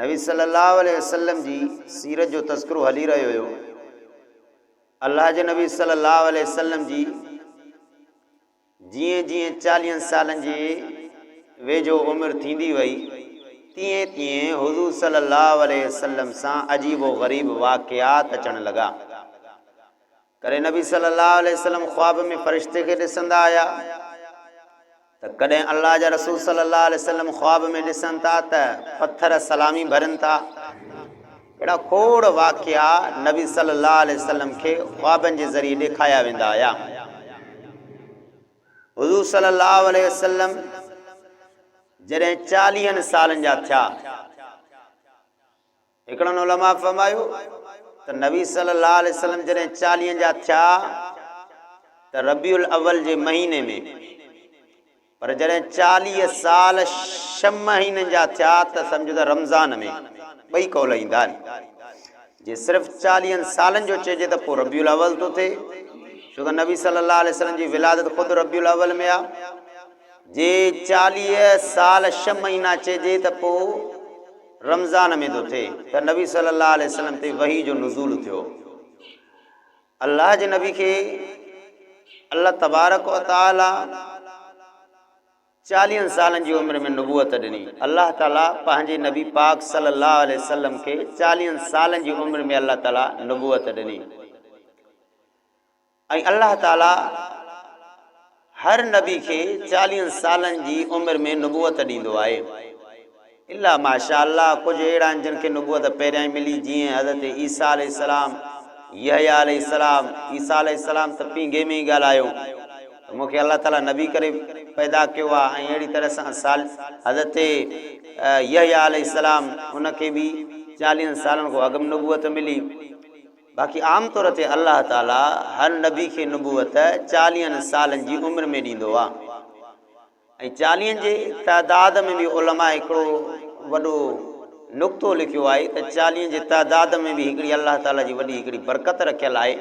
نبي صلي الله عليه وسلم جي سيرت جو تذڪرو هلي رهيو هيو. الله جي نبي صلي الله عليه وسلم جي جيئن جيئن چاليهن سالن جي ويجهو عمر ٿيندي وئي تيئن تيئن حضور صلي الله عليه وسلم سان عجيب و غريب واقعات اچڻ لڳا. ڪري نبي صلي الله عليه وسلم خواب ۾ فرشتي کي ڏسندا آيا ته ڪڏهن الله جا رسول صلي الله عليه وسلم خواب ۾ ڏسن ٿا ته پٿر سلامي ڀرن ٿا اهڙا کوڙ واقعا نبي صلي الله عليه وسلم کي خوابن جي ذريعي ڏيکايا ويندا آيا حضور صلي الله عليه وسلم جڏهن 40 سالن جا ٿيا هڪڙن علماء فرمايو ته نبي صلي الله عليه وسلم جڏهن چاليهن جا ٿيا ته ربيع الاول جي مهيني ۾، پر جڏهن چاليهه سال ڇهه مهينن جا ٿيا ته سمجهه ته رمضان ۾، ٻئي قول ايندا آهن. جي صرف چاليهن سالن جو چئجي ته پوء ربيع الاول ٿو ٿئي، ڇو ته نبي صلي الله عليه وسلم جي ولادت خود ربيع الاول ۾ آهي. جي چاليهه سال ڇهه مهينا چئجي ته پوء. رمضان ۾ ٿو ٿئي ته نبي صلي الله عليه وسلم تي وحي جو نزول ٿيو الله جي نبي کي الله تبارڪ و تعالي چاليهن سالن جي عمر ۾ نبوت ڏني الله تعالي پنهنجي نبي پاڪ صلي الله عليه وسلم کي چاليهن سالن جي عمر ۾ الله تعالي نبوت ڏني ۽ الله تعاليٰ هر نبي کي چاليهن سالن جي عمر ۾ نبوت ڏيندو آهي الا ماشاء الله ڪجهه اهڙا آهن جن کي نبوت پهريائين ملي جيئن حضرت عيسيٰ عليه السلام، يحيٰ عليه السلام، عيسيٰ عليه السلام ته پينگهي ۾ ئي ڳالهايو ته مون کي الله تعاليٰ نبي ڪري پيدا ڪيو آهي ۽ اهڙي طرح سان صال حضرت يحيٰ عليه السلام ان کي به چاليهن سالن کان اڳ ۾ نبوت ملي. باقي عام طور تي الله تعاليٰ هر نبي کي نبوت چاليهن سالن جي عمر ۾ ڏيندو آهي ۽ چاليهن جي تعداد ۾ به علماء هڪڙو وڏو نقطو لکيو آهي ته چاليهن جي تعداد ۾ به هڪڙي الله تعاليٰ جي وڏي هڪڙي برڪت رکيل آهي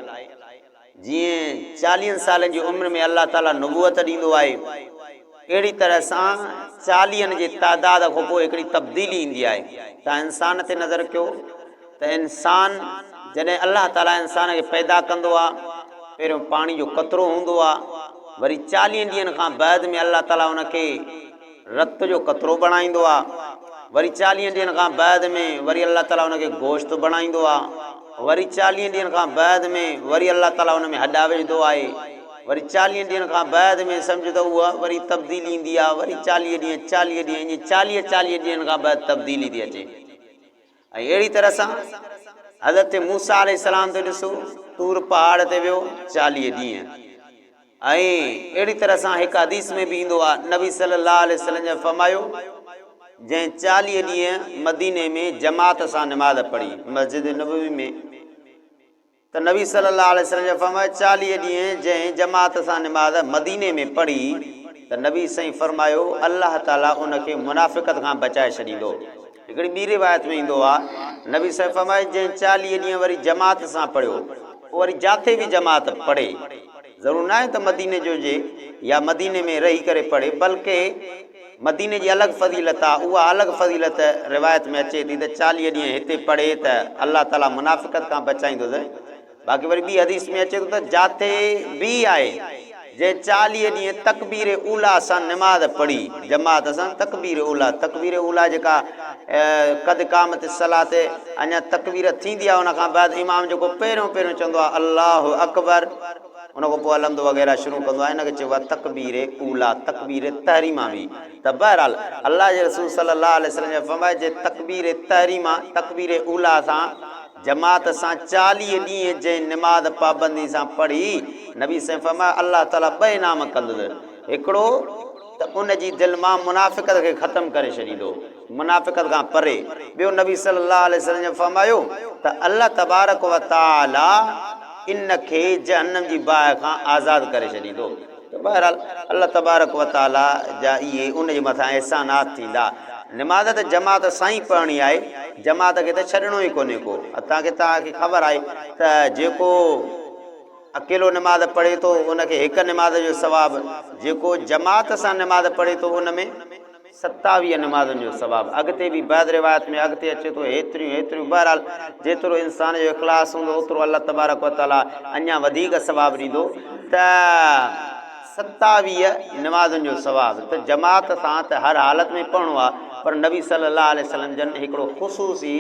جيئن چاليهن سالن جي عمر ۾ الله تعاليٰ نبوت ڏيندو آهي اهڙي طرح سان چاليهن جي تعداد کان پوء هڪڙي تبديلي ايندي آهي تان انسان تي نظر ڪيو ته انسان جڏهن الله تعاليٰ انسان کي پيدا ڪندو آهي پهريون پاڻي جو قطرو هوندو آهي وري چاليهن ڏينهن کان بعد ۾ الله تعاليٰ ان کي رت جو قطرو بڻائيندو آهي وري چاليهن ڏينهن کان بعد ۾ وري الله تعاليٰ ان کي گوشت بڻائيندو آهي وري چاليهن ڏينهن کان بعد ۾ وري الله تعاليٰ ان ۾ هڏا وجهندو آهي وري چاليهن ڏينهن کان بعد ۾ سمجهه ته اها وري تبديلي ايندي آهي وري چاليهه ڏينهن چاليهه ڏينهن ائين چاليهه چاليهه ڏينهن کان بعد تبديلي ٿي اچي. ۽ اهڙي طرح سان حضرت موسيٰ عليه السلام تي ڏسو طور پهاڙ تي ويو چاليهه ڏينهن ۽ اهڙي طرح سان هڪ حديث ۾ به ايندو آهي نبي صلي الله عليه وسلم جن فرمايو جنهن چاليهه ڏينهن مديني ۾ جماعت سان نماز پڙهي مسجد نبوي ۾ ته نبي صلّي اللّٰه عليه وسلّم جا فرمايا چاليهه ڏينهن جنهن جماعت سان نماز مديني ۾ پڙهي ته نبي سائين فرمايو الله تعالي ان کي منافقت کان بچائي ڇڏيندو هڪڙي ٻي روايت ۾ ايندو آ نبي سائين فرمايو جنهن چاليهه ڏينهن وري جماعت سان پڙهيو پوء وري جاٿي به جماعت پڙهي ضرور ناهي ته مديني جو هجي يا مديني ۾ رهي ڪري پڙهي بلڪه مديني جي الڳ فضيلت آ، اها الڳ فضيلت روايت ۾ اچي ٿي ته چاليهه ڏينهن هتي پڙهي ته الله تعاليٰ منافقت کان بچائيندس، باقي وري ٻي حديث ۾ اچي ٿو ته جاٿي به آهي جنهن چاليهه ڏينهن تڪبير اولی سان نماز پڙهي جماعت سان تڪبير اولی، تڪبير اولی جيڪا قد قامت الصلوة اڃا تڪبير ٿيندي آ ان کان بعد امام جيڪو پهريون پهريون چوندو آ الله اڪبر، ان کان پوء الحمد وغيره شروع ڪندو آهي ان کي چئبو آهي تڪبير اوليٰ تڪبير تحريمه به ته بهرحال الله جي رسول صلي الله عليه وسلم جي فرمائش جي تڪبير تحريمه تڪبير اوليٰ سان جماعت سان چاليهه ڏينهن جنهن نماز پابندي سان پڙهي نبي سائين فرمايو الله تعالي ٻه انعام ڪندس هڪڙو ته ان جي دل مان منافقت کي ختم ڪري ڇڏيندو. منافقت کان پري. ٻيو نبي صلي الله عليه وسلم جن فرمايو ته الله تبارڪ و تعالي ان کي جهنم جي باهه کان آزاد ڪري ڇڏيندو ته بهرحال الله تبارڪ و تعالي جا اهي ان جي مٿان احسانات ٿيندا. نماز ته جماعت سان ئي پڙهڻي آهي، جماعت کي ته ڇڏڻو ئي ڪونهي ڪو. حتيٰ ڪه توهان کي خبر آهي ته جيڪو اڪيلو نماز پڙهي ٿو ان کي هڪ نماز جو ثواب جيڪو جماعت سان نماز پڙهي ٿو ان ۾. ستاويهه نمازن جو ثواب اڳتي به بعض روايات ۾ اڳتي اچي ٿو هيتريون هيتريون بهرحال جيترو انسان جو اخلاص هوندو اوترو الله تبارڪ و تعاليٰ اڃا وڌيڪ ثواب ڏيندو ته ستاويهه نمازن جو ثواب ته جماعت سان ته هر حالت ۾ پڙهڻو آهي پر نبي صلي الله عليه وسلم جن هڪڙو خصوصي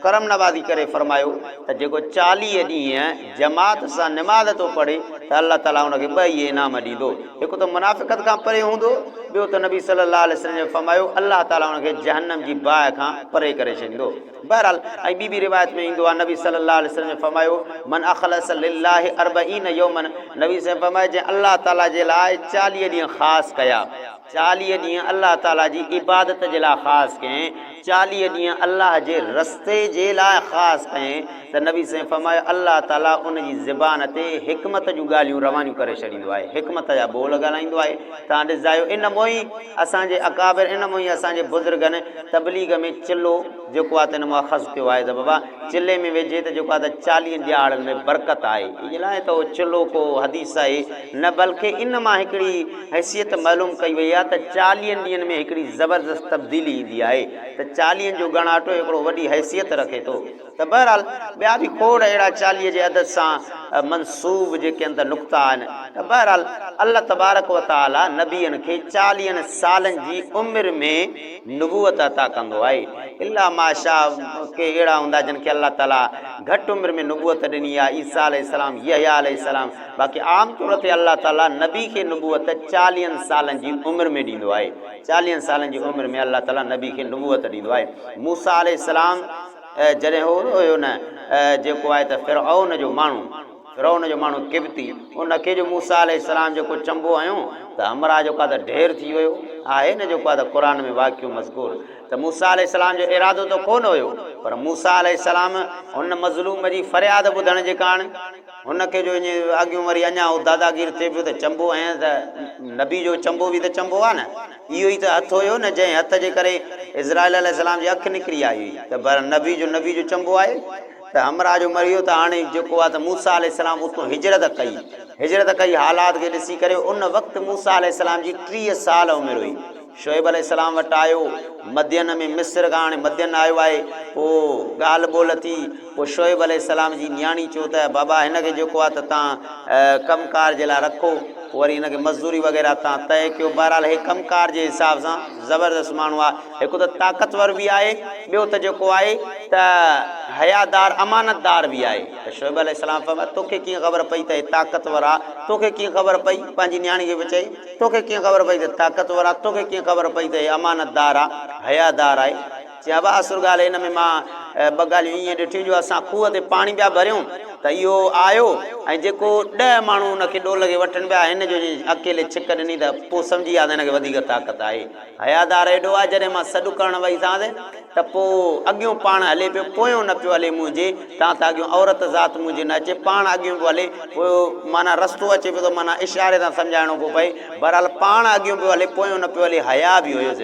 ڪرم نوازي ڪري فرمايو ته جيڪو چاليهه ڏينهن جماعت سان نماز ٿو پڙهي ته الله تعاليٰ ان کي ٻه ئي انعام ڏيندو، هڪ ته منافقت کان پري هوندو، ٻيو ته نبي صلي الله عليه وسلم جن فرمايو الله تعاليٰ ان کي جهنم جي باهه کان پري ڪري ڇڏيندو. بهرحال ۽ ٻي ٻي روايت ۾ ايندو آهي نبي صلي الله عليه وسلم جن فرمايو، من اخلص لله اربعين يوما نبي صلي الله عليه وسلم جن فرمايو جنهن الله تعاليٰ جي لاء چاليهه ڏينهن خاص ڪيا. چاليهه ڏينهن الله تعاليٰ جي عبادت جي لاء خاص ڪيائين، چاليهه ڏينهن الله جي رستي جي لاء خاص ڪيائين ته نبي صلعم فرمايو الله تعاليٰ ان جي زبان تي حڪمت جون ڳالهيون روانيون ڪري ڇڏيندو آهي، حڪمت جا ٻول ڳالهائيندو آهي، توهان ڏسجايو ان مهين اسان جي اڪابر ان مهين اسان جي بزرگن تبليغ ۾ چلو جيڪو آهي ته ان مان اخذ ڪيو آهي ته بابا چلي ۾ ويجهي ته جيڪو آهي ته چاليهن ڏيهاڙن ۾ برڪت آهي ان لاء ته اهو چلو ڪو حديث آهي. نه بلڪ ان مان هڪڙي حيثيت معلوم ڪئي وئي آهي ته چاليهن ڏينهن ۾ هڪڙي زبردست تبديلي ايندي آهي ته چاليهن جو ڳڻاٽو هڪڙو وڏي حيثيت رکي ٿو ته بهرحال ٻيا به کوڙ اهڙا چاليهه جي عدد سان منسوب جيڪي اندر نقطا آهن ته بهرحال الله تبارڪ و تعالي نبين کي چاليهن سالن جي عمر ۾ نبوت عطا ڪندو آهي الا ماشاء ڪي اهڙا هوندا جن کي الله تعالي گهٽ عمر ۾ نبوت ڏني آهي عيسيٰ عليه السلام يحيٰ عليه السلام باقي عام طور تي الله تعالي نبي کي نبوت چاليهن سالن جي عمر ۾ ڏيندو آهي. چاليهن سالن جي عمر ۾ الله تعالي نبي کي نبوت ڏيندو آهي. موسيٰ عليه السلام جڏهن هو نه هيو نه جيڪو آهي ته فرعون جو ماڻهو، فرعون جو ماڻهو قبطي، ان کي جو موسيٰ عليه السلام جيڪو چنبو هنيو ته همراهه جيڪو آهي ته ڍير ٿي ويو. آهي نه جيڪو آهي ته قرآن ۾ واقعو مذڪور ته موسيٰ عليه السلام جو ارادو ته ڪو نه هيو پر موسيٰ عليه السلام ان مظلوم جي فرياد ٻڌڻ جي ڪاڻ، هن کي جو اڃ اڳيون وري اڃا هو داداگير ٿئي پيو ته چنبو هنئس ته نبي جو چنبو به ته چنبو آهي نه. اهو ئي ته هٿ هيو نه جنهن هٿ جي ڪري اسرائيل عليه السلام جي اک نڪري آئي هئي ته بهرحال نبي جو نبي جو چنبو آهي ته همراهه جو مري ويو ته هاڻي جيڪو آهي ته موسيٰ عليه السلام اتون هجرت ڪئي هجرت ڪئي حالات کي ڏسي ڪري ان وقت موسيٰ عليه السلام جي ٽيهه سال عمر هئي. شعيب عليه السلام وٽ آيو مدين ۾ مصر کان هاڻي مدين آيو آهي پوء ڳالهه ٻولهه ٿي پوء شعيب عليه السلام جي نياڻي چيو ته بابا هن کي جيڪو آهي ته تان ڪم ڪار جي لاء رکو پوء وري هن کي مزدوري وغيره تان طئي ڪيو بهرحال هي ڪم ڪار جي حساب سان زبردست ماڻهو آهي هڪ ته طاقتور به آهي ٻيو ته جيڪو آهي ته حيادار امانتدار به آهي ته شعيب عليه السلام فرمايو توکي ڪيئن خبر پئي ته هي طاقتور آهي توکي ڪيئن خبر پئي پنهنجي نياڻي کي به چئي توکي ڪيئن خبر پئي ته طاقتور آ توکي ڪيئن خبر پئي ته هي امانتدار آ حيادار آهي چي ابا اصل ڳالهه هن ۾ مان ٻه ڳالهيون ائين ڏٺيون جو اسان کوهه تي پاڻي پيا ڀريون ته اهو آيو ۽ جيڪو ڏهه ماڻهو ان کي ڏول کي وٺن پيا هن جو جي اڪيلي ڇڪ ڏني ته پوء سمجهي ويا ته هن کي وڌيڪ طاقت آهي حيادار ايڏو آهي جڏهن مان سڏ ڪرڻ ويسانس ته پوء اڳيون پاڻ هلي پيو پويون نه پيو هلي منهنجي تان ته اڳيون عورت ذات منهنجي نه اچي پاڻ اڳيون پيو هلي پوء معنيٰ رستو اچي پيو ته معنيٰ اشاري سان سمجهائڻو پيو پئي بهرحال پاڻ اڳيون پيو هلي پويون نه پيو هلي حيا به هيس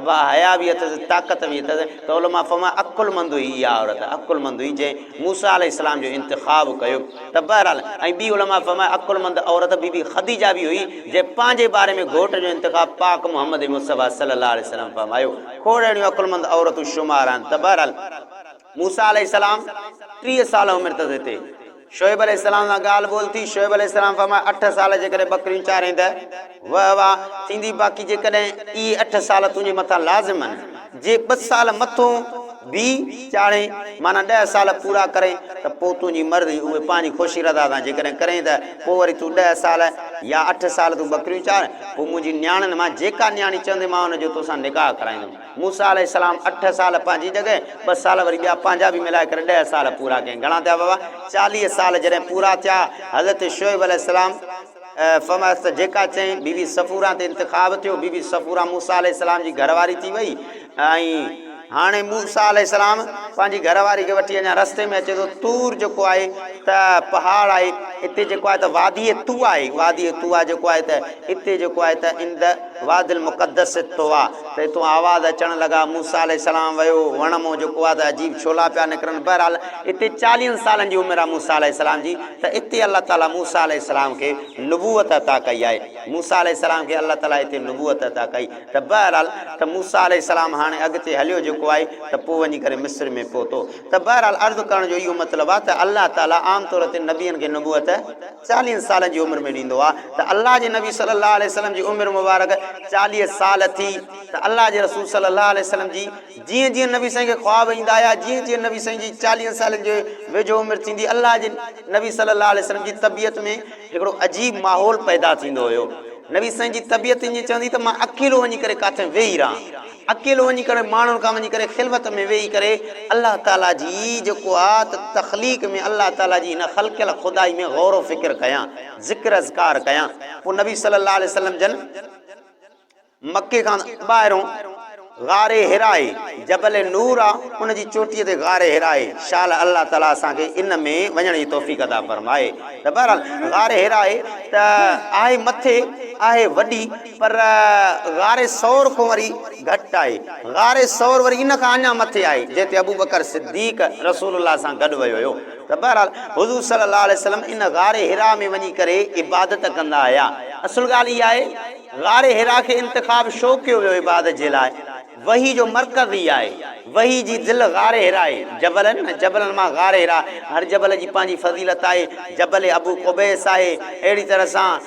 ابا حيا به اٿس طاقت به اٿس ته علماء فرمايو عقلمند هئي اها عورت عقلمند هئي جنهن موسيٰ عليه السلام جو انتخاب ڪيو ته بهرحال ۽ ٻي علماء فرمايو عقلمند عورت بي بي خديجه به هئي جنهن پنهنجي باري ۾ گهوٽ جو انتخاب پاڪ محمد مصطفيٰ صلي الله عليه وسلم فرمايو کوڙ اهڙيون عقلمند عورتون شمار آهن ته بهرحال موسيٰ عليه السلام ٽيهه سال عمر تس هتي شعيب عليه السلام سان ڳالهه ٻولهه ٿي شعيب عليه السلام فرمايو اٺ سال جيڪڏهن ٻڪريون چارين ته واه واه ٿيندي باقي جيڪڏهن اهي اٺ سال تنهنجي مٿان لازم آهن جي ٻه سال مٿون به چاڙهين معنيٰ ڏهه سال پورا ڪرين ته پوء تنهنجي مرضي اهو پنهنجي خوشي رضا سان جيڪڏهن ڪرين ته پوء وري تون ڏهه سال يا اٺ سال تون ٻڪريون چار پوء منهنجي نياڻين مان جيڪا نياڻي چوندي مان ان جو توسان نڪاح ڪرائيندم موسيٰ عليه السلام اٺ سال پنهنجي جڳهه ٻه سال وري ٻيا پنهنجا به ملائي ڪري ڏهه سال پورا ڪيائين گهڻا ٿيا بابا چاليهه سال جڏهن پورا ٿيا حضرت شعيب عليه السلام فرمايس ته جيڪا چئين بي بي صفوره تي انتخاب ٿيو، بي بي صفوره موسيٰ عليه السلام جي گهر واري ٿي وئي ۽ هاڻي موسيٰ عليه السلام پنهنجي گهر واري کي وٺي اڃا رستي ۾ اچي ٿو طور جيڪو آهي ته پهاڙ آهي اتي جيڪو آهي ته واديء طوٰي آهي واديء طوٰي جيڪو آهي ته اتي جيڪو آهي ته عند وادي المقدس طوٰي ته اتون آواز اچڻ لڳا موسيٰ عليه السلام ويو وڻ مون جيڪو آهي ته عجيب ڇولا پيا نڪرن بهرحال اتي چاليهن سالن جي عمر آهي موسيٰ عليه السلام جي ته اتي الله تعالي موسيٰ عليه السلام کي نبوت عطا ڪئي آهي. موسيٰ عليه السلام کي الله تعالي اتي نبوت عطا ڪئي ته بهرحال ته موسيٰ عليه السلام هاڻي اڳتي هليو جيڪو آهي ته پوء وڃي ڪري مصر ۾ پهتو ته بهرحال عرض ڪرڻ جو اهو مطلب آهي ته الله تعالي عام طور تي نبين کي نبوت چاليهن سالن جي عمر ۾ ڏيندو آهي ته الله جي نبي صلي الله عليه وسلم جي عمر مبارڪ چاليهه سال ٿي ته الله جي رسول صلي الله عليه وسلم جي جيئن جيئن نبي سائين کي خواب ايندا آيا جيئن جيئن نبي سائين جي چاليهن سالن جي ويجهو عمر ٿيندي الله جي نبي صلي الله عليه وسلم جي طبيعت ۾ هڪڙو عجيب ماحول پيدا ٿيندو هيو نبي سائين جي طبيعت ائين چوندي ته مان اڪيلو وڃي ڪري ڪاٿي ويهي رهان اڪيلو وڃي ڪري ماڻهن کان وڃي ڪري خلوت ۾ ويهي ڪري الله تعالي جي جيڪو آ ته تخليق ۾ الله تعالي جي هن خلقيل خدائي ۾ غور و فڪر ڪيان ذڪر اذڪار ڪيان پوء نبي صلي الله عليه وسلم جن مڪي کان ٻاهرون غار حراء جبل نور آ ان جي چوٽيء تي غار حراء شال الله تعالي اسان کي ان ۾ وڃڻ جي توفيق عطا فرمائي ته بهرحال غار حراء ته آهي مٿي آهي وڏي پر غار ثور کون وري گهٽ آهي غار ثور وري ان کان اڃا مٿي آهي جنهن تي ابوبڪر صديق رسول الله سان گڏ ويو هيو ته بهرحال حضور صلي الله عليه وسلم ان غار حراء ۾ وڃي ڪري عبادت ڪندا هيا اصل ڳالهه اها آهي غار حرا کي انتخاب شو ڪيو ويو عبادت جي لاء وحي جو مرڪز ئي آهي وحي جي دل غار حرا اهي جبل آهن نه جبلن مان غار حرا هر جبل جي پنهنجي فضيلت آهي جبل ابو قبيس آهي اهڙي طرح سان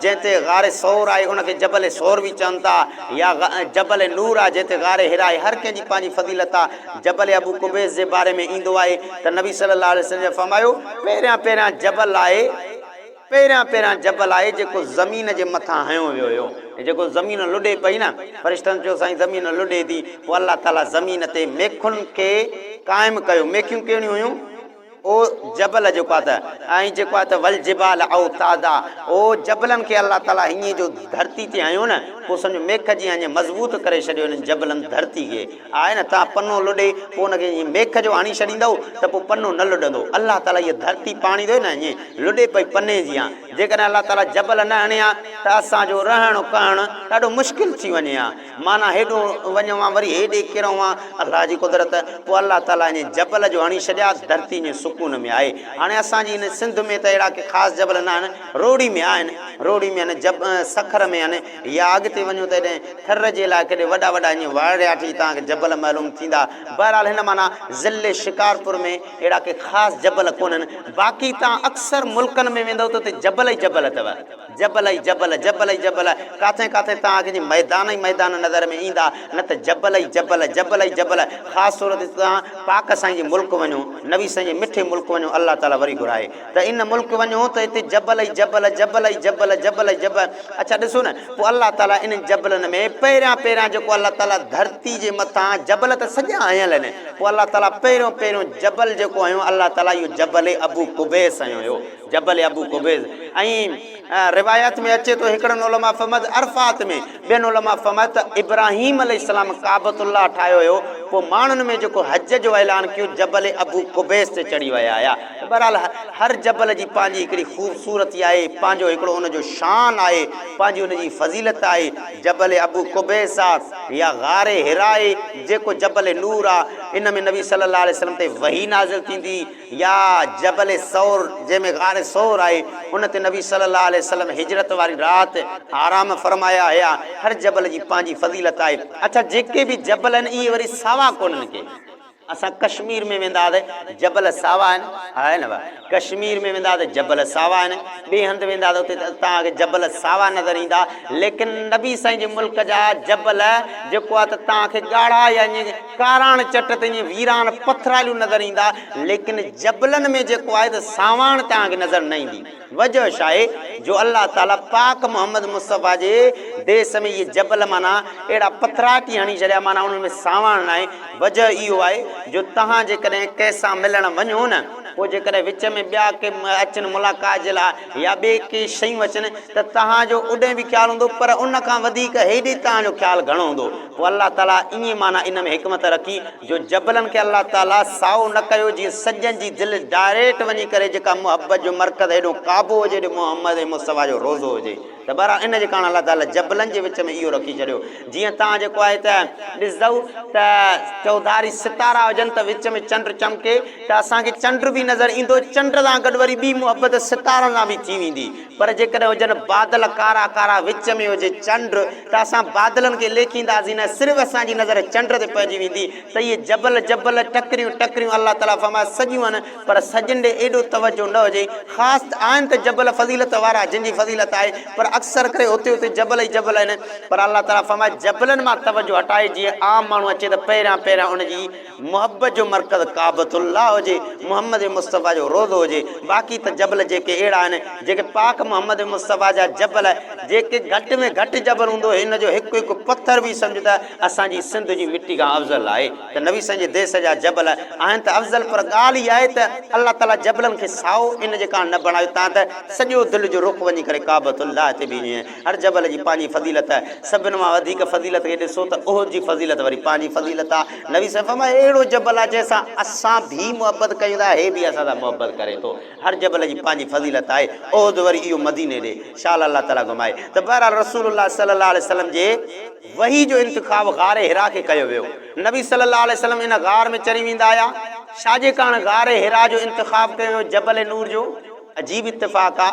جنهن تي غار ثور آهي ان کي جبل ثور به چون ٿا يا جبل نور آهي جنهن تي غار حرا آهي هر ڪنهن جي پنهنجي فضيلت آهي جبل ابو قبيس جي باري ۾ ايندو آهي ته نبي صلي الله عليه وسلم جي فرمايو پهريان پهريان جبل آهي پهريان پهريان جبل آهي جيڪو زمين جي مٿان هنيو ويو هيو ۽ جيڪو زمين لڏي پئي نه فرشتن چيو سائين زمين لڏي ٿي پوء الله تعالي زمين تي ميخن کي قائم ڪيو ميخيون ڪهڙيون هيون اهو جبل جيڪو آهي ته ۽ جيڪو آهي ته والجبال اوتادا اهو جبلن کي الله تعالي هيئن جو ڌرتي تي هنيو نه پوء سمجهو ميخ جيان ائين مضبوط ڪري ڇڏيو انهن جبلن ڌرتي کي آهي نه تان پنو لڏي پوء ان کي ائين ميک جو هڻي ڇڏيندؤ ته پوء پنو نه لڏندو الله تعالي هيء ڌرتي پاڻي ٿئي نه ائين لڏي پئي پني جيان جيڪڏهن الله تعالي جبل نه هڻي ها ته اسان جو رهڻ ڪهڻ ڏاڍو مشڪل ٿي وڃي ها معنيٰ هيڏو وڃون ها وري هيڏي ڪرون ها الله جي قدرت پوء الله تعالي ائين جبل جو هڻي ڇڏيا ڌرتي ائين سڪون ۾ آهي هاڻي اسان جي هن سنڌ ۾ ته اهڙا ڪي خاص جبل نه آهن روهڙي ۾ آهن روهڙي ۾ آهن جب سکر ۾ آهن يا اڳتي وڃو ته ايڏهن ٿر جي لاء ڪيڏي وڏا وڏا اڃ وارڙياٺي تان کي جبل معلوم ٿيندا. بهرحال هن معنيٰ ضلعي شڪارپور ۾ اهڙا ڪي خاص جبل ڪونهن. باقي توهان اڪثر ملڪن ۾ ويندؤ ته اتي جبل ئي جبل اٿو. جبل ئي جبل، جبل ئي جبل. ڪاٿي ڪاٿي توهان کي جي ميدان ئي ميدان نظر ۾ ايندا نه ته جبل ئي جبل، جبل ئي جبل. خاص طور تي توهان پاڪ سائين جي ملڪ وڃو، نبي سائين جي مٺي ملڪ وڃو الله تعاليٰ وري گهرائي. ته ان ملڪ وڃو ته اتي جبل ئي جبل، جبل ئي جبل، جبل ئي جبل. اڇا ڏسو نه پوء الله تعاليٰ انهن جبلن ۾ پهريان پهريان جيڪو الله تعاليٰ ڌرتي جي مٿان جبل ته سڄا هنيل آهن پوء الله تعاليٰ پهريون پهريون جبل جيڪو هنيو الله تعاليٰ اهو جبل ابو قبيس هنيو هيو جبل ابو قبيس ۽ روايات ۾ اچي ٿو هڪڙن علماء فهمت عرفات ۾ ٻين علماء فهمت ته ابراهيم عليه السلام ڪعبت الله ٺاهيو هيو پوء ماڻهن ۾ جيڪو حج جو اعلان ڪيو جبل ابو قبيس تي چڙهي ويا هيا بهرحال هر جبل جي پنهنجي هڪڙي خوبصورتي آهي پنهنجو هڪڙو ان جو شان آهي پنهنجي ان جي فضيلت آهي جبل ابو قبيس آ يا غار حراء جيڪو جبل نور آ ان ۾ نبي صلي الله عليه وسلم تي وحي نازل ٿيندي يا جبل ثور جنهن ۾ غار ثور آهي ان تي نبي صلي الله عليه وسلم هجرت واري رات آرام فرمايا هيا هر جبل جي پنهنجي فضيلت آهي اڇا جيڪي به جبل آهن اهي وري ساوا ڪونهن ڪي اسان ڪشمير ۾ ويندا ته جبل ساوا آهن ها نه ڀا ڪشمير ۾ ويندا ته جبل ساوا آهن ٻي هنڌ ويندا ته اتي توهان کي جبل ساوا نظر ايندا ليڪن نبي سائين جي ملڪ جا جبل جيڪو آهي ته توهان کي ڳاڙها يا ائين ڪاراڻ چٽ تي ائين ويران پٿراليون نظر ايندا ليڪن جبلن ۾ جيڪو آهي ته سانواڻ توهان کي نظر نه ايندي وجهه شاهي جو الله تعالي پاڪ محمد مصطفيٰ جي ديس ۾ اهي جبل معنيٰ اهڙا پٿراٽي هڻي ڇڏيا معنيٰ انهن ۾ سانواڻ ناهي وجهه اهو آهي جو توهان جيڪڏهن ڪنهن سان ملڻ وڃو نه پوء جيڪڏهن وچ ۾ ٻيا ڪي اچن ملاقات جي لاء يا ٻي ڪي شيون اچن ته توهان جو اوڏهن به خيال هوندو پر ان کان وڌيڪ هيڏي توهان جو خيال گهڻو هوندو پوء الله تعاليٰ ائين معنيٰ ان ۾ حڪمت رکي جو جبلن کي الله تعاليٰ سائو نه ڪيو جيئن سڄڻ جي دل ڊائريڪٽ وڃي ڪري جيڪا محبت جو مرڪز هيڏهون ڪعبو هجي هيڏهون محمد ۽ مصطفيٰ جو روضو هجي ته بهرحال ان جي ڪاڻ الله تعاليٰ جبلن جي وچ ۾ اهو رکي ڇڏيو جيئن توهان جيڪو آهي ته ڏسندؤ ته چوڌاري ستارا هجن ته وچ ۾ چنڊ چمڪي ته اسان کي چنڊ به نظر ايندو چنڊ سان گڏ وري ٻي محبت ستارن سان به ٿي ويندي پر جيڪڏهن هجن بادل ڪارا ڪارا وچ ۾ هجي چنڊ ته اسان بادلن کي ليکينداسين نه صرف اسان جي نظر چنڊ تي پئجي ويندي ته اهي جبل جبل ٽڪريون ٽڪريون الله تعالي فرمائي سڄيون آهن پر سڄين ڏي ايڏو توجهه نه هجي خاص ته آهن ته جبل فضيلت وارا جن جي فضيلت آهي پر اڪثر ڪري هتي هتي جبل ئي جبل آهن پر الله تعالي فرمائي جبلن مان توجهه هٽائي جيئن عام ماڻهو اچي ته پهريان پهريان ان جي محبت جو مرڪز ڪعبة الله هجي، محمد مصطفيٰ جو روضو هجي، باقي ته جبل جيڪي اهڙا آهن، جيڪي پاڪ محمد مصطفيٰ جا جبل، جيڪي گهٽ ۾ گهٽ جبل هوندو، هن جو هڪ هڪ پٿر به سمجهه ته اسان جي سنڌ جي مٽي کان افضل آهي ته نبي سائين جي ديس جا جبل آهن ته افضل پر ڳالهه اها آهي ته الله تعاليٰ جبلن کي سائو ان جي ڪاڻ نه بڻايو تان ته سڄو دل جو رخ وڃي ڪري ڪعبة الله تي بيهي هر جبل جي پنهنجي فضيلت آهي، سڀن مان وڌيڪ فضيلت کي ڏسو ته احد جي فضيلت وري پنهنجي فضيلت آهي، نبي صلعم فرمايو اهڙو جبل آهي جنهن سان اسان ڀي محبت ڪيون ٿا هي به اسان سان محبت ڪري ٿو، هر جبل جي پنهنجي فضيلت آهي، احد وري اهو مديني ڏي شال الله تعالي گهمائي ته بهرحال رسول الله صلي الله عليه وسلم جي وحي جو انتخاب غار حرا کي ڪيو ويو، نبي صلي الله عليه وسلم ان غار ۾ چري ويندا هيا، ڇا جي ڪارڻ غار حرا جو انتخاب ڪيو ويو جبل نور جو؟ عجيب اتفاق آ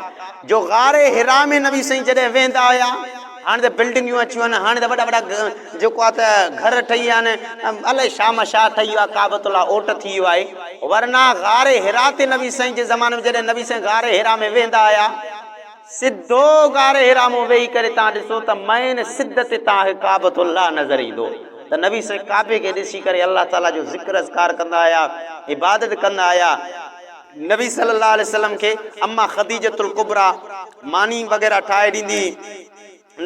جو غار حرا ۾ نبي سائين جڏهن ويهندا هيا هاڻي ته بلڊنگيون اچيون آهن هاڻي ته وڏا وڏا جيڪو آ ته گهر ٺهي ويا آهن الائي شاهمشاهه ٺهي ويو آ ڪعبة الله اوٽ ٿي ويو آهي ورنه غار حرا تي نبي سائين جي زماني ۾ جڏهن نبي سائين غار حرا ۾ ويهندا هيا سڌو غار حرا مون ويهي ڪري توهان ڏسو ته مئن سڌ تي توهان کي ڪعبة الله نظر ايندو ته نبي سائين ڪعبي کي ڏسي ڪري الله تعالي جو ذڪر اذڪار ڪندا هيا عبادت ڪندا هيا. نبي صلي الله عليه وسلم کي اما خديجة الڪبريٰ ماني وغيره ٺاهي ڏيندي هئي.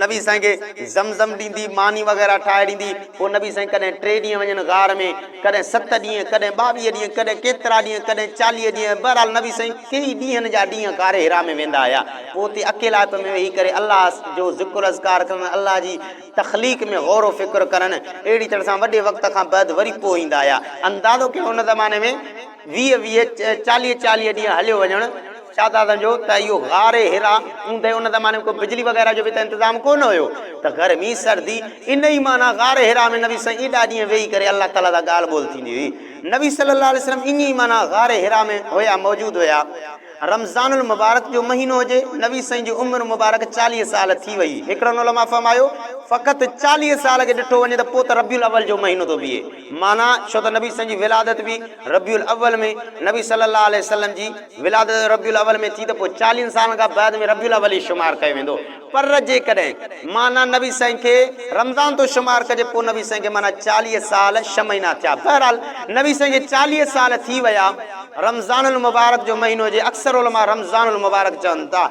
نبي سائين کي زمزم ڏيندي، ماني وغيره ٺاهي ڏيندي. پوء نبي سائين ڪڏهن ٽي ڏينهن وڃن غار ۾، ڪڏهن ست ڏينهن، ڪڏهن ٻاويهه ڏينهن، ڪڏهن ڪيترا ڏينهن، ڪڏهن چاليهه ڏينهن، بهرحال نبي سائين ڪيئي ڏينهن جا ڏينهن غار حرا ۾ ويندا هيا. پوء اتي اڪيلائپ ۾ ويهي ڪري الله جو ذڪر اذڪار ڪرڻ، الله جي تخليق ۾ غور و فڪر ڪرڻ، اهڙي طرح سان وڏي وقت کان بعد وري پوء ايندا هيا. اندازو ڪيو ان زماني ۾. ويهه ويهه، چاليهه چاليهه ڏينهن هليو وڃڻ شاهزادن جو ته اهو غار حرا اوندهه ان زماني ۾ ڪو بجلي وغيره جو به ته انتظام ڪونه هيو ته گرمي سردي ان ئي معنيٰ غار حرا ۾ نبي سائين ايڏا ڏينهن ويهي ڪري الله تعاليٰ سان ڳالهه ٻولهه ٿيندي هئي نبي صلي الله عليه وسلم ايئن ئي معنيٰ غار حرا ۾ هيا موجود هيا رمضان المبارڪ جو مهينو هجي نبي سائين جي عمر مبارڪ چاليهه سال ٿي وئي هڪڙن علماء فرمايو فقط چاليهه سال کي ڏٺو وڃي ته پوء ته ربيع الاول جو مهينو ٿو بيهي. معنيٰ، ڇو ته نبي صلعم جي ولادت به ربيع الاول ۾ نبي صلي الله عليه وسلم جي ولادت ربيع الاول ۾ ٿي ته پوء چاليهن سالن کان بعد ۾ ربيع الاول ئي شمار ڪيو ويندو پر جيڪڏهن معنيٰ نبي صلعم کي رمضان ٿو شمار ڪجي پوء نبي صلعم کي معنيٰ چاليهه سال ڇهه مهينا ٿيا بهرحال نبي صلعم کي چاليهه سال ٿي ويا. رمضان المبارڪ جو مهينو هجي اڪثر علماء رمضان المبارڪ چون ٿا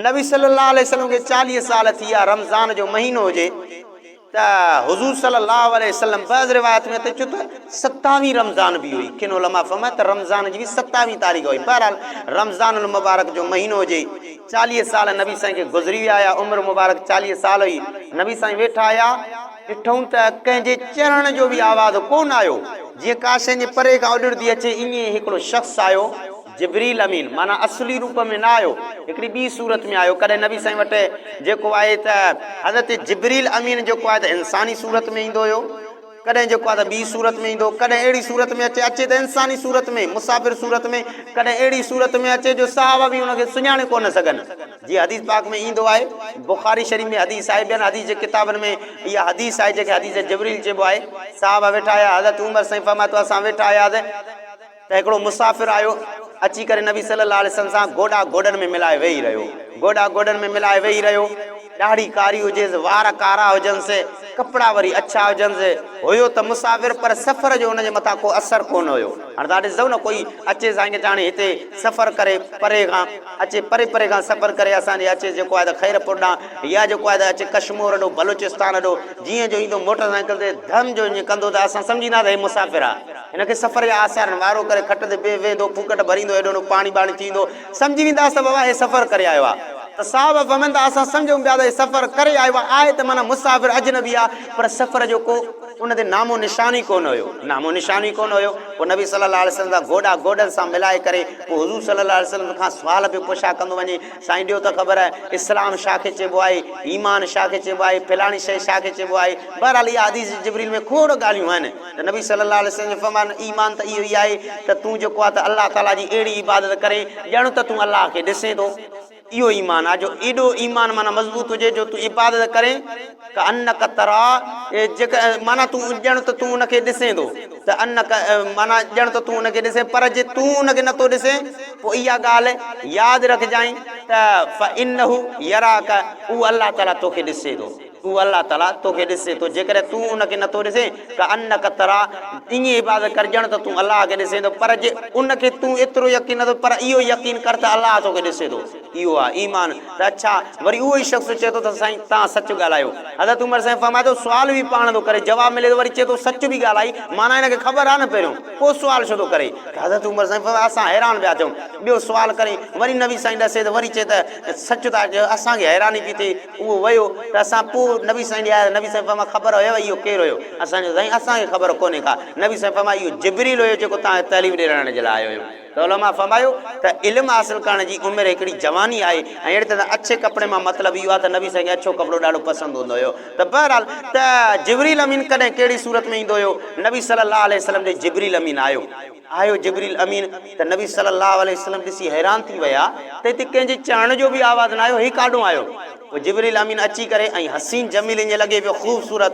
نبي صلي الله عليه وسلم کي چاليهه سال ٿي ويا رمضان جو مهينو هجي. ته حضور صلي الله عليه وسلم بعض روايات ۾ اچي ٿو ته ستاويهين رمضان به هئي ڪن علماء فرمايو ته رمضان جي به ستاويهين تاريخ هئي بهرحال رمضان المبارڪ جو مهينو هجي چاليهه سال نبي سائين کي گذري ويا هيا عمر مبارڪ چاليهه سال هئي نبي سائين ويٺا هيا ڏٺئون ته ڪنهن جي چرڻ جو به آواز ڪونه آيو جيئن ڪا شيء جي پري کان اڏڙدي اچي ائين هڪڙو شخص آيو جبريل امين معنيٰ اصلي روپ ۾ نه آيو، هڪڙي ٻي صورت ۾ آيو، ڪڏهن نبي سائين وٽ جيڪو آهي ته حضرت جبريل امين جيڪو آهي ته انساني صورت ۾ ايندو هيو، ڪڏهن جيڪو آهي ته ٻي صورت ۾ ايندو، ڪڏهن اهڙي صورت ۾ اچي، اچي ته انساني صورت ۾، مسافر صورت ۾، ڪڏهن اهڙي صورت ۾ اچي جو صحابه به ان کي سڃاڻي ڪونه سگهن، جيئن حديث پاڪ ۾ ايندو آهي، بخاري شريف ۾ حديث آهي، ٻين حديث جي ڪتابن ۾ اها حديث آهي جنهن کي حديث جبريل چئبو آهي، صحابه ويٺا هيا، حضرت عمر سائين فرمائي ٿو اسان ويٺا هياسين، ته هڪڙو مسافر آيو، اچي ڪري نبي صلّي اللّٰه عليه وسلّم سان گوڏا گوڏن ۾ ملائي ويهي رهيو، گوڏا گوڏن ۾ ملائي ويهي رهيو، ڏاڙهي ڪاري هجيس، وار ڪارا هجنس، ڪپڙا وري اڇا هجنس، هيو ته مسافر پر سفر جو ان جي مٿان ڪو اثر ڪونه هيو، هاڻي توهان ڏسندؤ نه ڪوئي اچي سائين ڪي چاڻي هتي سفر ڪري پري کان اچي پري پري کان سفر ڪري اسان ڏي اچي جيڪو آهي ته خيرپور ڏانهن يا جيڪو آهي ته اچي ڪشمور هڏو بلوچستان هڏو جيئن جو ايندو موٽر سائيڪل تي ڌم جو ائين ڪندو ته اسان سمجهنداسين هي مسافر آ. هن کي سفر جا آثارن وارو ڪري کٽ تي به ويهندو، ڦوڪٽ ڀريندو، هيڏو هوڏو پاڻي ٻاڻي ٿي ايندو. سمجهي وينداس ته بابا هي سفر ڪري آيو آ. ته صاحب فهمن ته اسان سمجهون پيا ته هي سفر ڪري آيو آ. آهي ته معنيٰ مسافر، اجنبي آ. پر سفر جو ڪو ان تي نامو نشان ئي ڪونه هيو. نامو نشان ئي ڪونه هيو. پوء نبي صلّي اللّٰه عليه وسلّم سان گوڏا گوڏن سان ملائي ڪري پوء حضور صلّي اللّٰه عليه وسلّم کان سوال پيو پڇا ڪندو وڃي، سائين ڏيو ته خبر، اسلام شا کي چئبو آهي؟ ايمان شا کي چئبو آهي؟ فلاڻي شيء شا کي چئبو آهي؟ بهرحال اها حديث جبريل ۾ کوڙ ڳالهيون آهن. ته نبي صلي الله عليه وسلم جو فرمان، ايمان ته اهو ئي آهي ته تون جيڪو آهي ته الله تعاليٰ جي اهڙي عبادت ڪرين ڄڻ ته تون الله کي ڏسين ٿو. اهو ايمان آهي جو ايڏو ايمان معنيٰ مضبوط هجي جو تون عبادت ڪرين ڪأنک تراه جيڪ معنيٰ تون ڄڻ ته تون ان کي ڏسين ٿو ته انک معنيٰ ڄڻ ته تون ان کي ڏسين پر جي تون ان کي نه ٿو ڏسين پوء اها ڳالهه ياد رکجانء ته فإنه يراک اهو الله تعاليٰ توکي ڏسي ٿو. هو، الله تعاليٰ، تو کي ڏسي ٿو، جيڪڏهن تون ان کي نٿو ڏسين، ڪأنک ترا، ائين عبادت ڪر ڄڻ ته تون الله کي ڏسين ٿو، پر جي ان کي تون ايترو يقين نٿو، پر اهو يقين ڪر ته الله تو کي ڏسي ٿو. اهو آهي ايمان. ته اڇا، وري اهو ئي شخص چئي ٿو ته سائين توهان سچ ڳالهايو. حضرت عمر سائين فرمائي ٿو، سوال به پاڻ ٿو ڪري، جواب ملي ٿو، وري چئي ٿو سچ به ڳالهائي، معنيٰ هن کي خبر آهي نه پهريون، پوء سوال ڇو ٿو ڪري؟ ته حضرت عمر سائين فرمائي، اسان حيران پيا ٿيون. ٻيو سوال ڪرين، وري نبي سائين ڏسي ٿو، وري چئي ته سچ ٿا چيو، اسان کي حيراني پئي ٿئي. اهو ويو ته اسان پوء نبي سائين ڏي آياسين، نبي سائين فرمايو خبر هيو اهو ڪير هيو؟ اسان چيو سائين اسان کي خبر ڪونهي ڪا، نبي سائين فرمايو اهو جبريل هيو جيڪو توهان کي تعليم ڏيرائڻ جي لاء آيو هيو ته علماء فرمايو ته علم حاصل ڪرڻ جي عمر هڪڙي جواني آهي ۽ اهڙي طرح سان اڇي ڪپڙي مان مطلب اهو آهي ته نبي سائين کي اڇو ڪپڙو ڏاڍو پسند هوندو هيو ته بهرحال ته جبريل امين ڪڏهن ڪهڙي صورت ۾ ايندو هيو نبي صلي الله عليه وسلم ڏي جبريل امين آيو. آهيو جبريل امين ته نبي صلّي اللّٰه عليه وسلّم ڏسي حيران ٿي ويا ته هتي ڪنهن جي چهڻ جو به آواز نه آيو هي ڪاڏهون آيو پوء جبريل امين اچي ڪري ۽ حسين جميل ائين لڳي پيو خوبصورت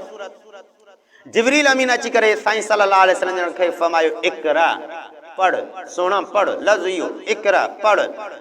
جبريل امين اچي ڪري سائين صلّي اللّٰه عليه وسلّم جن کي فرمايو اقرأ پڙهه سهڻا پڙهه لفظ اهو اقرأ پڙهه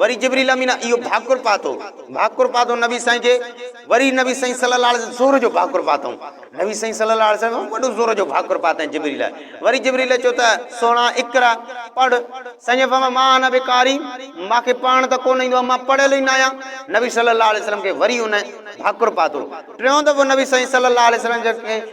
وري جبريل امين اهو ڀاڪر پاتو، ڀاڪر پاتو نبي سائين کي، وري نبي سائين صلي الله عليه وسلم زهر جو ڀاڪر پاتائون، نبي سائين صلي الله عليه وسلم وڏو زهر جو ڀاڪر پاتائين جبريل لاء، وري جبريل چيو ته سهڻا اقرا، پڙهه، سائين جن فرمايو ما انا بقاري، مان کي پڙهڻ ته ڪونه ايندو آهي، مان پڙهيل ئي ناهيان، نبي صلي الله عليه وسلم کي وري ان ڀاڪر پاتو، ٽيون دفعو نبي سائين صلي الله عليه وسلم جن کي.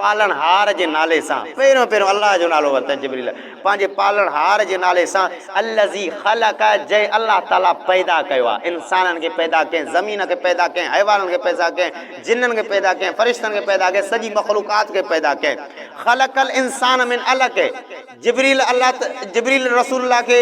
پالڻهار جي نالي سان پهريون پهريون الله جو نالو ورتائين جبريل پنهنجي پالڻهار جي نالي سان الذي خلق جنهن الله تعالي پيدا ڪيو آهي انسانن کي پيدا ڪيائين زمين کي پيدا ڪيائين حيوانن کي پيدا ڪيائين جنن کي پيدا ڪيائين فرشتن کي پيدا ڪيائين سڄي مخلوقات کي پيدا ڪيائين خلق الانسان من علق جبريل الله ته جبريل رسول الله کي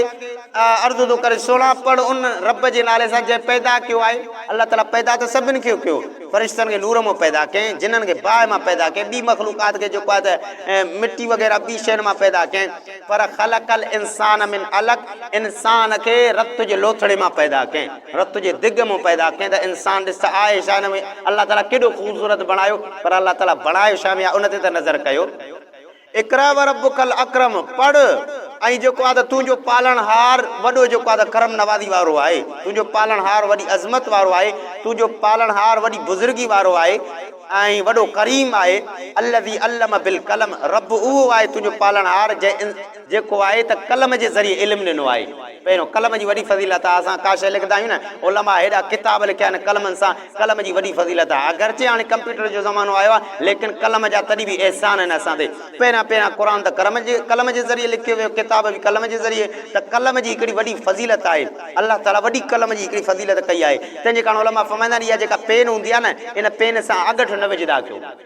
عرض ٿو ڪري سهڻا پڙهه ان رب جي نالي سان جنهن پيدا ڪيو آهي الله تعالي پيدا ته سڀني کي ڪيو فرشتن کي نور مان پيدا ڪيائين جنن کي باهه مان پيدا ڪيائين ٻي مخلوقات کي جيڪو آهي ته مٽي وغيره ٻي شين مان پيدا ڪيائين پر خلق الانسان من علق انسان کي رت جي لوٿڙي مان پيدا ڪيائين رت جي دگ مان پيدا ڪيائين ته انسان ڏس ته آهي ڇا هن ۾ الله تعالي ڪيڏو خوبصورت بڻايو پر الله تعالي بڻايو ڇا ۾ آهي ان تي ته نظر ڪيو اقرا وربک الاڪرم پڙهه ۽ جيڪو آ ته تنهنجو پالڻهار وڏو جيڪو آ ته ڪرم نوازي وارو آهي تنهنجو پالڻهار وڏي عظمت وارو آهي تنهنجو پالڻهار وڏي بزرگي وارو آهي ۽ وڏو ڪريم آهي الذي علم بالقلم رب اهو آهي تنهنجو پالڻهار جنهن جيڪو آهي ته قلم جي ذريعي علم ڏنو آهي پهريون قلم جي وڏي فضيلت آ اسان ڪا شيء لکدا آهيون نه علماء هيڏا ڪتاب لکيا آهن قلمن سان قلم جي وڏي فضيلت آهي. اگرچه هاڻي ڪمپيوٽر جو زمانو آيو آهي، ليڪن قلم جا تڏهن به احسان آهن اسان تي. پهريان پهريان قرآن ته قلم جي ذريعي لکيو ويو، ڪتاب به قلم جي ذريعي، ته قلم جي هڪڙي وڏي فضيلت آهي. الله تعاليٰ وڏي قلم جي هڪڙي فضيلت ڪئي آهي. تنهنجي ڪاڻ علماء فرمائيندا آهن، اها جيڪا پين هوندي آهي نه، ان پين سان اڳٺ نه وجهندا ڪيو.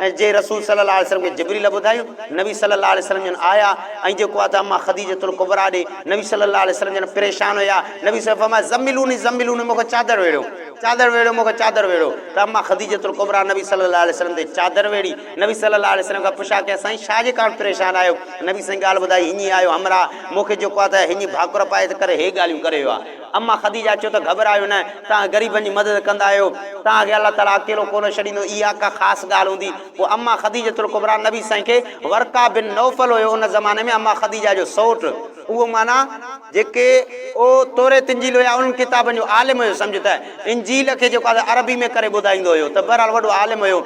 ۽ جنهن رسول صلي الله عليه وسلم کي جبريل ٻڌايو، نبي صلي الله عليه وسلم جن آيا ۽ جيڪو آهي ته اما خديجة الڪبريٰ ڏي، نبي صلي الله عليه وسلم جن پريشان هيا، نبي صلي فرمايو زملوني زملوني مون کي چادر ويڙهيو، چادر ويڙهيو مون کي چادر ويڙهيو ته اما خديجة الڪبريٰ نبي صلي الله عليه وسلم تي چادر ويڙهي، نبي صلي الله عليه وسلم کان پڇا ڪيا سائين ڇا جي ڪارڻ پريشان آهيو، نبي سائين ڳالهه ٻڌائي هڃي آيو همراهه مون کي جيڪو آهي ته هڃي ڀاڪر پائي ته ڪري هي ڳالهيون ڪري ويو آهي. اما خديجه چيو ته گهٻرايو نه، توهان غريبن جي مدد ڪندا آهيو، توهان کي الله تعاليٰ اڪيلو ڪونه ڇڏيندو، اها ڪا خاص ڳالهه هوندي. پوء اما خديجة الڪبريٰ نبي سائين کي ورقه بن نوفل هيو ان زماني ۾ اما خديجه جو سئوٽ، اهو معنيٰ جيڪي او توريت انجيل هيا انهن ڪتابن جو عالم هيو سمجهه ته انجيل کي جيڪو آهي عربي ۾ ڪري ٻڌائيندو هيو ته بهرحال وڏو عالم هيو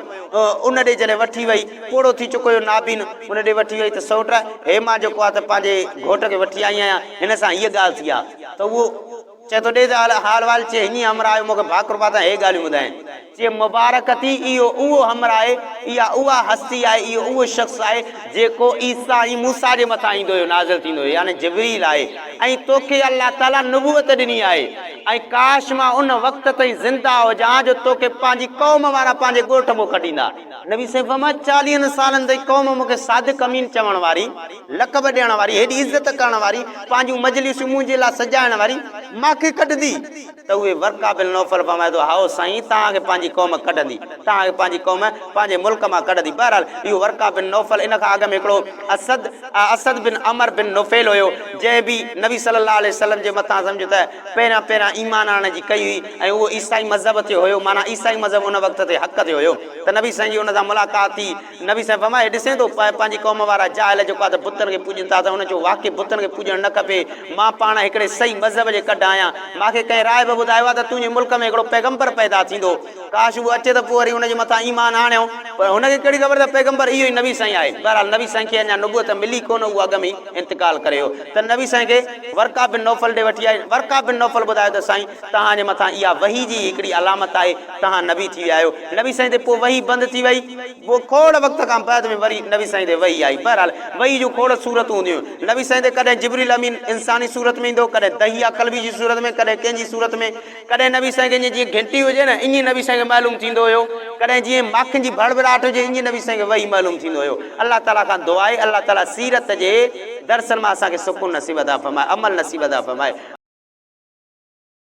ان ڏي جڏهن وٺي وئي پوڙهو ٿي چڪو هيو نابين ان ڏي وٺي وئي ته سئوٽ هي مان جيڪو آهي ته پنهنجي گهوٽ کي وٺي آئي آهيان هن سان هيء ڳالهه ٿي آهي. ته اهو چئي ٿو ڏي ته حال وال چئي هني همراهه آيو مون کي ڀاڪر پاتان هي ڳالهيون ٻڌائين چئي مبارڪ ٿي اهو اهو همراهه آهي اها اها هستي آهي اهو اهو شخص آهي جيڪو عيسي ۽ موسيٰ جي مٿان ايندو هيو نازل ٿيندو هيو يعني جبريل آهي ۽ توکي الله تعالي نبوت ڏني آهي ۽ ڪاش مان ان وقت تائين زنده هجان جو توکي پنهنجي قوم وارا پنهنجي ڳوٺ مون کٽيندا نبي سائين فرمايو چاليهن سالن تائين قوم مون کي صادق امين چوڻ واري لقب ڏيڻ واري، هيڏي عزت ڪرڻ واري، پنهنجون مجلسون منهنجي لاء سجائڻ واري ماکي ڪڍندي ته اهي ورقه بن نوفل فرمائي ٿو، هائو سائين! توهان کي پنهنجي قوم ڪڍندي، توهان کي پنهنجي قوم پنهنجي ملڪ مان ڪڍندي. بهرحال اهو ورقه بن نوفل ان کان اڳ ۾ هڪڙو اسد، اسد بن عمر بن نفيل، هيو، جنهن به نبي صلي الله عليه وسلم جي مٿان سمجهه ته پهريان پهريان ايمان آڻڻ جي ڪئي هئي ۽ اهو عيسائي مذهب تي هيو، معنيٰ عيسائي مذهب ان وقت تي حق تي هيو ته نبي سائين جي ان سان ملاقات ٿي. نبي صاحب فرمايو هي ڏسين ٿو پنهنجي قوم وارا جاهل جيڪو آهي ته بتن کي پوڄين ٿا ته ان چيو واقعي بتن کي پوڄڻ نه کپي مان پاڻ هڪڙي صحيح مذهب جي ڪڍ آهيان مان کي ڪنهن راهب ٻڌايو آهي ته تنهنجي ملڪ ۾ هڪڙو پيغمبر پيدا ٿيندو ڪاش اهو اچي ته پوء وري ان جي مٿان ايمان آڻيون پر هن کي ڪهڙي خبر ته پيغمبر اهو ئي نبي سائين آهي بهرحال نبي سائين کي اڃا نبوت ملي ڪونه اهو اڳ ۾ ئي انتقال ڪري ويو ته نبي سائين کي ورقه بن نوفل ڏي وٺي آئي ورقه بن نوفل ٻڌايو ته سائين توهان جي مٿان اها وحي جي هڪڙي علامت آهي توهان نبي ٿي ويا آهيو. نبي سائين تي پوء وحي بند ٿي وئي. پوء کوڙ وقت کان بعد ۾ وري نبي سائين تي وحي آئي. بهرحال وحي جون کوڙ صورتون هونديون هيون. نبي سائين تي ڪڏهن جبريل امين انساني صورت ۾ ايندو هو، ڪڏهن دحييٰ ڪلبي جي صورت ۾، ڪڏهن ڪنهن جي صورت ۾، ڪڏهن نبي سائين کي ائين جيئن گهنٽي هجي نه ائين نبي سائين کي معلوم ٿيندو هيو، ڪڏهن جيئن ماکين جي ڀڙڀڙاٽ هجي ائين نبي سائين کي وحي معلوم ٿيندو هيو. الله تعاليٰ کان دعا آهي الله تعاليٰ سيرت جي درسن مان اسان کي سڪون نصيب عطا فرمائي، عمل نصيب عطا فرمائي.